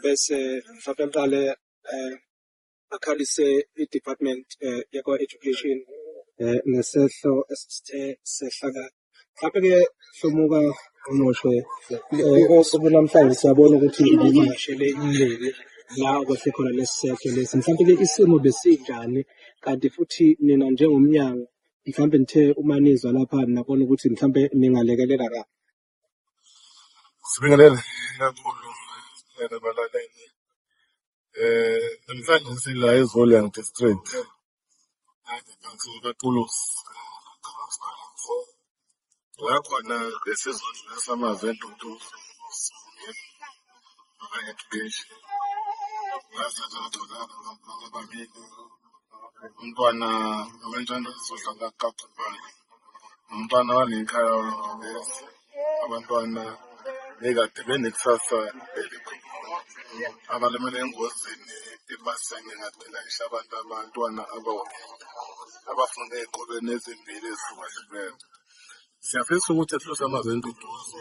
bese mhlawumbe ngiqale um akhalise i-department um yakwa-education um ngesehlo esithe sehlakala mhlawumbe-ke hlomuka unoshwe um osuku namhlanje siyabona ukuthi ngivakashele inleli la okwehle khona lesi sehlo lesi mhlawumbe-ke isimo besinjani kanti futhi nina njengomnyango mhlawumbe nithe uma nizwa lapha nabona ukuthi mhlawumbe ningalekelela kabi Sibingelele kakhulu yena balaleli. Eh namhlanje sila eZolian District. Ngiphansi kaTulus. La khona besizodlulisa amazwi entuthu. umntwana abantwana zodlala kakhulu umntwana walenkhaya wangibesi abantwana bekade benekusasa elikhulu abalimele engozini ibasenge ngadilayisha abantu abantwana abawabili abafunde ey'kolweni ezimbili ezihlukahlukene Siyafisa ukuthi sihlose amazwi enduduzo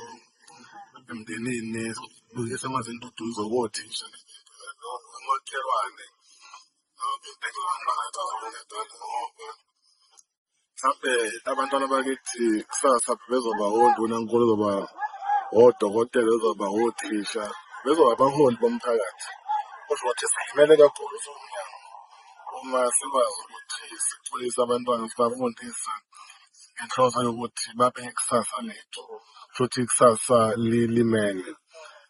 emndenini, sihlose amazwi enduduzo kothisha umakhelwane mhlampe abantwana bakithi kusasa bezoba wonduna nkulu zoba odokotela bezoba othisha bezoba abaholi bomphakathi kusho ukuthi silimele kakhulu somnyango uma sikwazi ukuthi sixolise abantwana sibafundisa ngenhloso yokuthi babe ikusasa lethu futhi ikusasa lilimele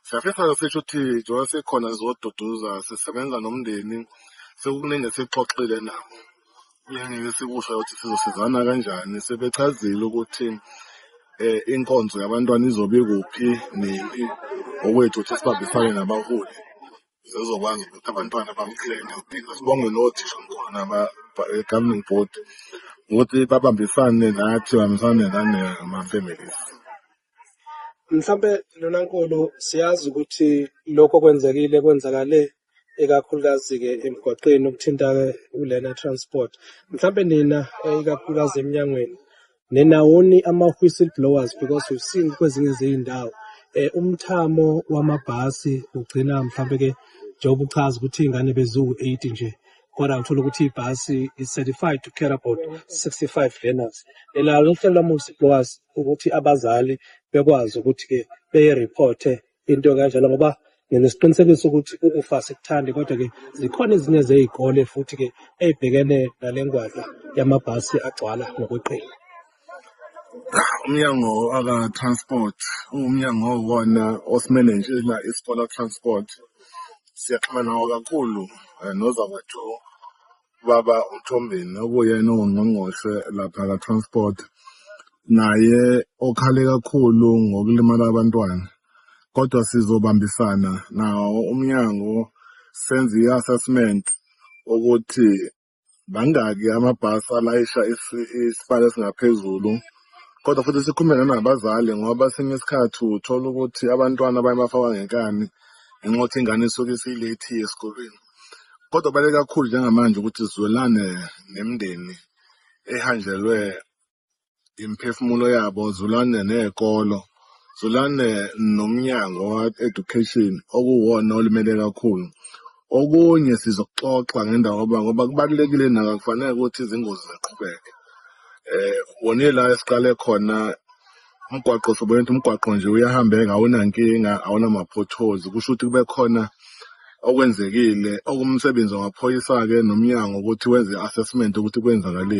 siyafisa sisho ukuthi njengoba sikhona sizoduduza sisebenza nomndeni sekukuningi esixoxile nabo ngeke sikusho ukuthi sizosizana kanjani sebechazile ukuthi eh inkonzo yabantwana izobe kuphi nini okwethu ukuthi sibambisane nabaholi zizokwazi ukuthi abantwana bamklene impilo sibonge nothishamkhulu naba-governing board ukuthi babambisane nathi babambisane nanama-families mhlampe lona nkulu siyazi ukuthi lokho kwenzekile kwenzakale ikakhulukazi-ke emgwaqeni ukuthinta-ke ulena transport mhlampe nina eh, ikakhulukazi emnyangweni Ninawoni ama-whistleblowers because we've seen kwezinye zey'ndawo eh umthamo wamabhasi ugcina mhlampe ke njengoba uchaza ukuthi iy'ngane beziwu-eight nje kodwa ngithola ukuthi ibhasi i-certified to care about 65 learners elalo uhlelo lama-whistleblowers ukuthi abazali bekwazi ukuthi-ke beye-reporte into kanjalo ngoba nginesiqinisekiso ukuthi ufa sikuthandi kodwa-ke zikhona ezinye zey'kole futhi-ke ey'bhekene nale ngwadla yamabhasi agcwala ngokweqile umnyango aka-transport umnyango wona osimele nje isikole transport siyaxhumana nawo kakhulu eh, nozakwethu ubaba uthombeni okuyena ongqongqoshe lapha ka-transport naye okhale kakhulu ngokulimala abantwana kodwa sizobambisana nawo umnyango senze i-assessment ukuthi bangaki amabhasi alayisha isibalo esingaphezulu kodwa futhi sikhulume nabazali ngoba sinye isikhathi uthola ukuthi abantwana bayabafaka ngenkani ngenxa yokuthi ingane isuke isiyilethi esikolweni Kodwa kubaluleke kakhulu njengamanje ukuthi zwelane nemindeni ehanjelwe imiphefumulo yabo, zwelane ney'kolo, zwelane nomnyango wa-education okuwona olimele kakhulu. Okunye sizokuxoxa ngendawo yoba ngoba kubalulekile nako akufanele ukuthi izingozi ziqhubeke. Eh, wona ila esiqale khona umgwaqo sobona ukuthi umgwaqo nje uyahambeka awunankinga awunama-potholes kusho ukuthi kube khona okwenzekile okumsebenzi wamaphoyisa-ke nomnyango ukuthi wenze i-assessment ukuthi kwenzakaleni